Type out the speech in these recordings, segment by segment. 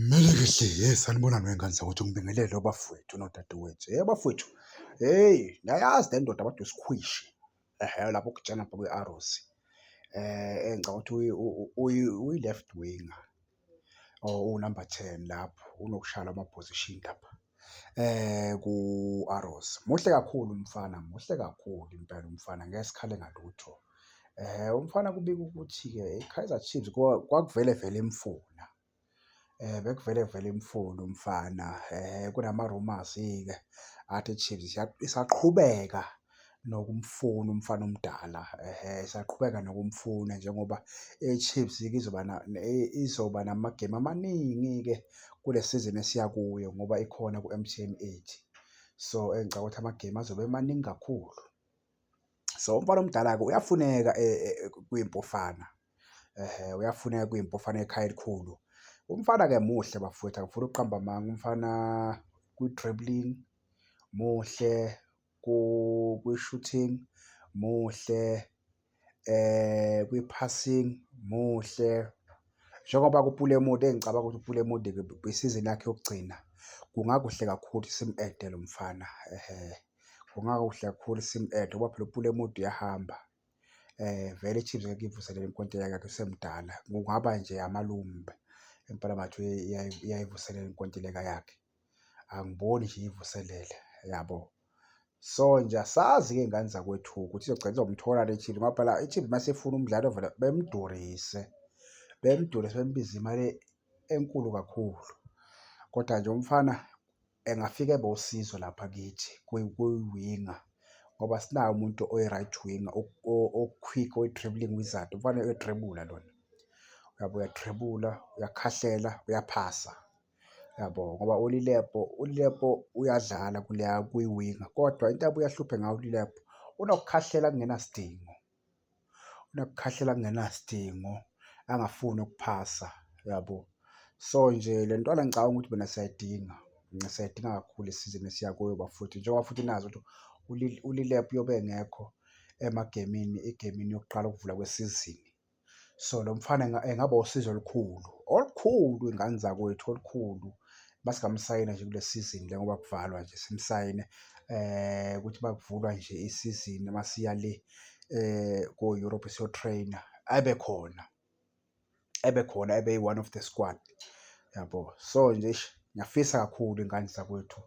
Mele ke hle hey sanibona ney'ngane zakwethu ngibingelele obafowethu nodadewethu. Hey bafowethu, hey ngiyayazi le ndoda kodwa isikhwishi ehe lapho okujana khona kwi-arrows engicabanga ukuthi uyi-left winger or uwu-number ten lapho unokushaya lama-position lapha. eh ku-Arrows. Muhle kakhulu umfana, muhle kakhulu impela umfana ngeke sikhale ngalutho. Eh umfana kubika ukuthi-ke iKaizer Chiefs kwakuvele vele imfuna. Eh bekuvele vele imfuna umfana. Eh kunama-rumours-ke athi iChiefs isaqhubeka nokumfuna umfana omdala esaqhubeka nokumfuna njengoba iChiefs izoba izoba namagemu amaningi-ke kule sizini esiya kuyo ngoba ikhona ku-M_T_N eight. So, engicabanga ukuthi amagemu azobe emaningi kakhulu. So, umfana omdala-ke uyafuneka kwiMpofana uyafuneka kwiMpofana ekhaya elikhulu. Umfana-ke muhle bafwethu angifuni ukuqamba amanga, umfana kwi-dribbling muhle. kwi-shooting muhle, kwi-passing muhle. Njengoba kuPulemudi engicabanga ukuthi uPulemudi kwisizini yakhe yokugcina, kungakuhle kakhulu simu-ede lo mfana ehe. Kungakuhle kakhulu simu-ede ngoba phela uPulemudi uyahamba, vele iChiefs ngeke iyivuselele inkontileka yakhe usemdala. Kungaba nje amalumbe impela ngathi uyayivuselela inkontileka yakhe. angiboni nje iyivuselele yabo. So nje asazi ke ngane zakwethu ukuthi izogcina izomthola le Chiefs ngoba phela iChiefs uma sifuna umdlali ovela bemdurise, bemdurise bembize imali enkulu kakhulu. Kodwa nje umfana engafika ebe usizo lapha kithi kwi-winger ngoba sinaye umuntu oyi-right winger o-quick oyi-dribbling wizard, umfana uyadribula lona. Uyabo uyadribula, uyakhahlela, uyaphasa. yabo ngoba uLilepo uLilepo uyadlala kuleya kwiwinga kodwa into abuye ahluphe ngayo uLilepo unokukhahlela kungenasidingo, unokukhahlela kungenasidingo angafuni ukuphasa yabo. So nje le ntwana ngicabanga ukuthi mina siyayidinga, siyayidinga kakhulu isizini esiya kuyo bafowethu njengoba futhi nazi ukuthi uLilepo uyobe engekho emagemini egemini yokuqala ukuvula kwesizini. so lo mfana engaba usizo olukhulu olukhulu ingane zakwethu olukhulu masingamsayina nje kule sizini le ngoba kuvalwa nje simsayine eh ukuthi bakuvulwa nje isizini masiya le eh ko Europe siyo trainer abe khona ebe khona ebe one of the squad yabo so nje ngiyafisa kakhulu ingane zakwethu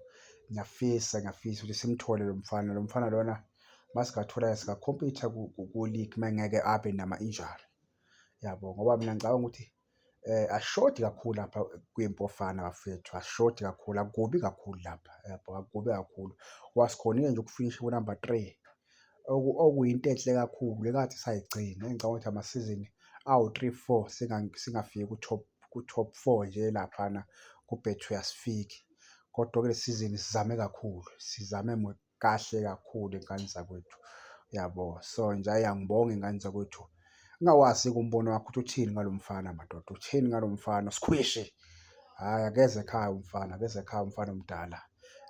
ngiyafisa ngiyafisa ukuthi simthole lo mfana lo mfana lona uma singathola-ke singakhompitha ku-league uma engeke abe nama-injury yabo ngoba mina ngicabanga ukuthi eh ashodi kakhulu lapha kwiMpofana bafethu ashodi kakhulu akubi kakhulu lapha yabo akubi kakhulu wasikhonile nje ukufinisha ku number 3 okuyinto enhle kakhulu lekathi sayigcina engicabanga ukuthi amasizini awu 3 4 singafiki ku top ku top 4 nje laphana kubhethu uyasifiki kodwa ke lesizini sizame kakhulu sizame kahle kakhulu ingane zakwethu yabo. So nje ayi angibonge ingane zakwethu. Ngingakwazi-ke umbono wakho ukuthi uthini ngalo mfana madoda, uthini ngalo mfana sikhwishi. Hhayi akeze ekhaya umfana, akeze ekhaya umfana omdala.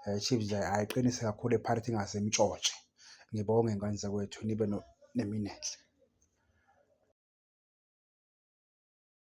Eh, Chiefs nje ayiqinise kakhulu ePirates ingase imtshotshe. Ngibonge ngane zakwethu nibe no nemini enhle.